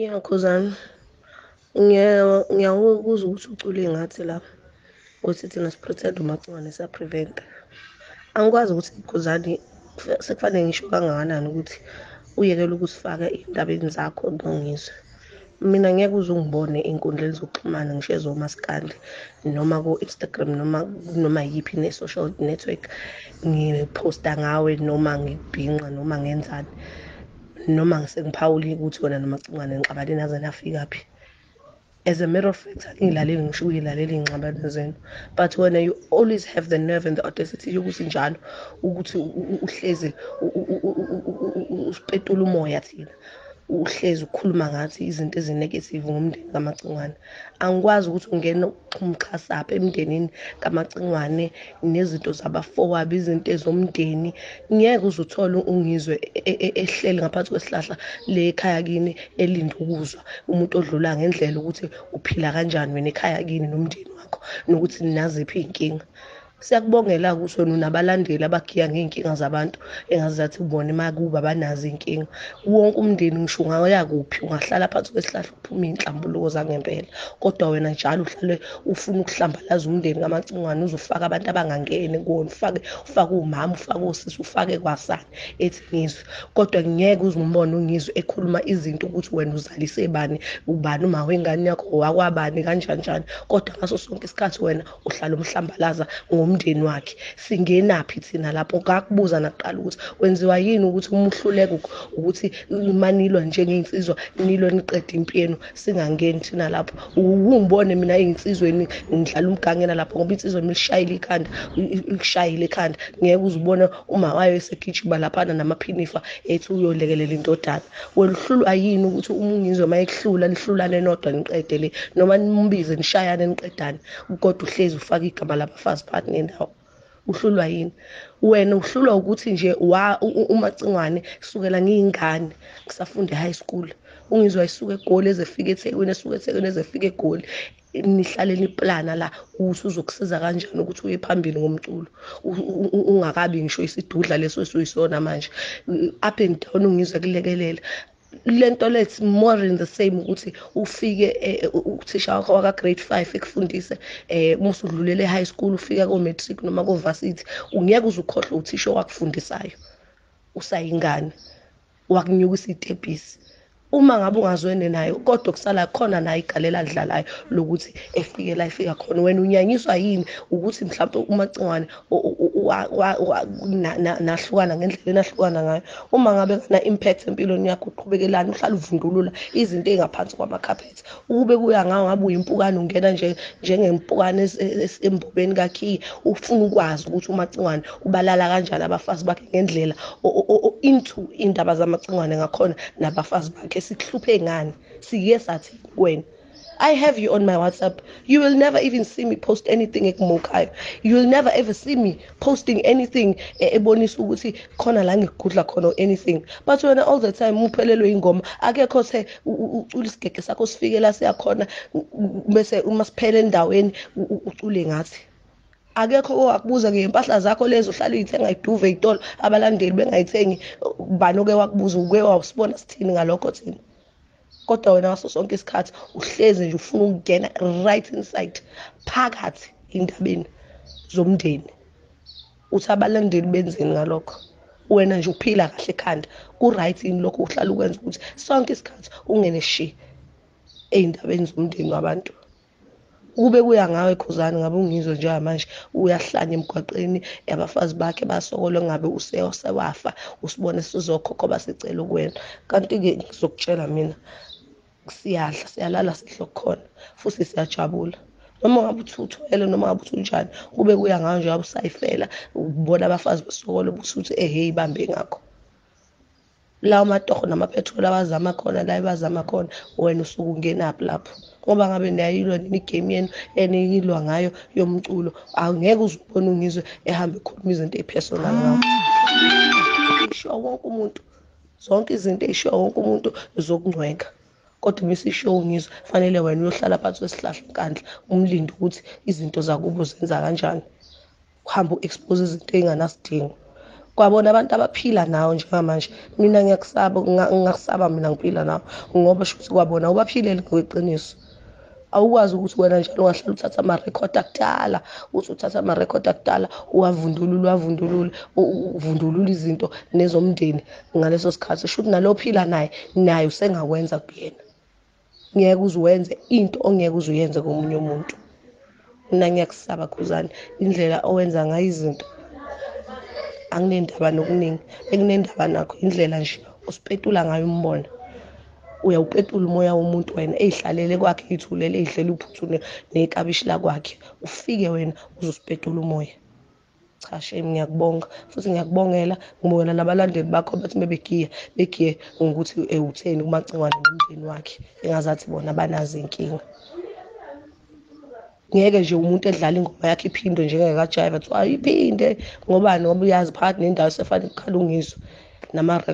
Yeah, Khuzani. Ngiyawukuza ukuthi ucule ngathi la. Ukuthi thina siprotect umacwane sa prevent. Angikwazi ukuthi Khuzani sekufanele ngisho kangakanani ukuthi uyekele ukusifaka endabeni zakho nongizwe. Mina ngeke uze ungibone enkundleni zokuxhumana ngisho ezomaskandi noma ku-Instagram noma noma yiphi ne-social network ngiphosta ngawe noma ngibhinqa noma ngenzani. noma ngisengiphawulile ukuthi wena nomacingwane ngixabane naze nafika phi as a matter of fact angilaleli ngisho uyilaleli ingxabano zenu but wena you always have the nerve and the audacity yokuthi njalo ukuthi uhlezi usipetula umoya thina uhlezi ukhuluma ngathi izinto ezinegative ngomndeni kamacingwane angikwazi ukuthi ungena umxhasa apha emndenini kamacingwane nezinto zabafowabo izinto ezomndeni ngeke uze uthole ungizwe e, e, ehleli ngaphansi kwesihlahla le ekhaya kini elinde ukuzwa umuntu odlula ngendlela ukuthi uphila kanjani wena ekhaya kini nomndeni wakho nokuthi ninaziphi iy'nkinga Siyakubongela kusho nabalandeli abagiya ngey'nkinga zabantu engazi zathi bona emakuba abanazo iy'nkinga. Wonke umndeni ngisho ungaya kuphi ungahlala phansi kwesihlahla uphume iy'nhlambuluko zangempela. Kodwa wena njalo uhlale ufuna ukuhlambalaza umndeni kamacingwane uze ufake abantu abangangeni kuwona ufake ufake umama ufake osisi ufake kwasani ethi ngizwe. Kodwa ngeke uze umbone ungizwe ekhuluma izinto ukuthi wena uzalise bani ubani uma wengane yakho wakwabani kanjani njani. Kodwa ngaso sonke isikhathi wena uhlala umhlambalaza ngomndeni wakhe singenaphi thina lapho kakubuza nakuqala ukuthi wenziwa yini ukuthi uma uhluleka ukuthi manilwa njengey'nsizwa nilwe niqeda impi yenu singangeni thina lapho wungibone mina ey'nsizweni ngidlala umgangela lapho ngoba insizwa milishayile ikhanda ikushayile ikhanda ngeke uzibone uma wayo esegijima laphana namaphinifa ethi uyolekelela indodana weluhlulwa yini ukuthi uma ungizwe uma ekuhlula lihlulane nodwa niqede le noma nimbize nishayane niqedane kodwa uhlezi ufaka igama labafazi phakathi nendawo uhlulwa yini wena uhlulwa ukuthi nje wa umacingwane kusukela ngiyingane ngisafunda e-high school ungizwa esuka egoli ezefika ethekwini esuka ethekwini ezefika egoli nihlale niplana la usuzokusiza kanjani ukuthi uye phambili ngomculo ungakabi ngisho isidudla leso esuyisona manje up and down ungizwa kulekelela lento let's more in the same ukuthi ufike eh, uthisha wakho waka grade 5 ekufundise eh uma usudlulele high school ufika ko matric noma ko varsity ungeke uzukhohlwa uthisha wakufundisayo usayingane wakunyukisa itepisi uma ngabe ungazwene nayo kodwa kusala khona naye igalela adlalayo lokuthi efike la efika khona wena unyanyiswa yini ukuthi mhlawumbe umacingwane nahlukana ngendlela enahlukana ngayo uma ngabe kana impact empilweni yakho uqhubekelana uhlala uvundulula izinto ezingaphansi kwamacarpet ukube kuya ngawo ngabe uyimpukane ungena nje njengempukane embubeni kakhiye ufuna ukwazi ukuthi umacingwane ubalala kanjani abafazi bakhe ngendlela into indaba zamacingwane ngakhona nabafazi bakhe sikuhluphe ngani siye sathi kuwena I have you on my WhatsApp. You will never even see me post anything ekumukayo. You will never ever see me posting anything eh, ebonisa ukuthi khona la ngigudla khona anything. But wena all the time uphelelwe ingoma. Akekho se ucula isigege sakho sifike la siyakhona bese uma siphele endaweni ucule ngathi. akekho owakubuza ke impahla zakho lezo uhlala uyithenga iduve itolo abalandeli bengayithengi bani oke wakubuza uke wawusibona sithini ngalokho thina kodwa wena ngaso sonke isikhathi uhlezi nje ufuna ukungena right inside phakathi indabeni zomndeni uthi abalandeli benzeni ngalokho wena nje uphila kahle ekhanda ku-right yini lokho uhlala ukwenza ukuthi sonke isikhathi ungene shi ey'ndabeni zomndeni wabantu ukube kuya ngawe khuzani ngabe ungizwe njengamanje uyahlanya emgwaqeni abafazi bakhe basokole ngabe usewafa usibone sizokhokho basicela ukuwena kanti-ke ngizokutshela mina siyadla siyalala sihle kukhona futhi siyajabula noma ngabe uthi uthwele noma ngabe uthi unjani kube kuya ngayo njengoba usayifela ubona abafazi besokola ubuthi uthi ehhe ibambe ngakho lawo matoho namapetrol abazama khona la ebazama khona wena usuke ungenaphi lapho ngoba ngabe niyayilwa nini igame yenu eniyilwa ngayo yomculo angeke uzubona ungizwe ehambe ekhuluma izinto ezipersonal ngawo ishiwa wonke umuntu zonke izinto eyishiwa wonke umuntu zokungcwenga kodwa uma isishiwo ngizwe fanele wena uyohlala phansi kwesihlahla nkandla umlinde ukuthi izinto zakubo zenza kanjani kuhamba u-expose izinto ey'nganasidingo kwabona abantu abaphila nawo njengamanje mina ngiyakusaba ngingakusaba mina ngiphila nawo ngoba shukuthi kwabona ubaphilele ngokweqiniso awukwazi ukuthi wena njalo ungahlala uthatha amarekhodi akudala uthi uthatha amarekhodi akudala uwavundulule uwavundulule uvundulule izinto nezomndeni ngaleso sikhathi shuthi nalophila naye naye usengakwenza kuyena ngeke uze wenze into ongeke uze uyenze komunye umuntu mina ngiyakusaba khuzane indlela owenza ngayo izinto anginendaba nokuningi enginendaba nakho indlela nje osipetula ngayo umbona uyawupetula umoya womuntu wena eyihlalele kwakhe eyithulele eyidlela uphuthu nekabishi lakwakhe ufike wena uzosipetula umoya cha shame ngiyakubonga futhi ngiyakubongela ngibongela nabalandeli bakho bathi bebegiya begiye ngokuthi eh, utheni kumacingwane nomndeni wakhe engazathi bona banazo inkinga ngeke nje umuntu edlala ingoma yakhe iphindwe njengekajayiva kuthiwa iphinde ngobani ngoba uyazi phakathi nendawo sefane kukhala ungizwa nama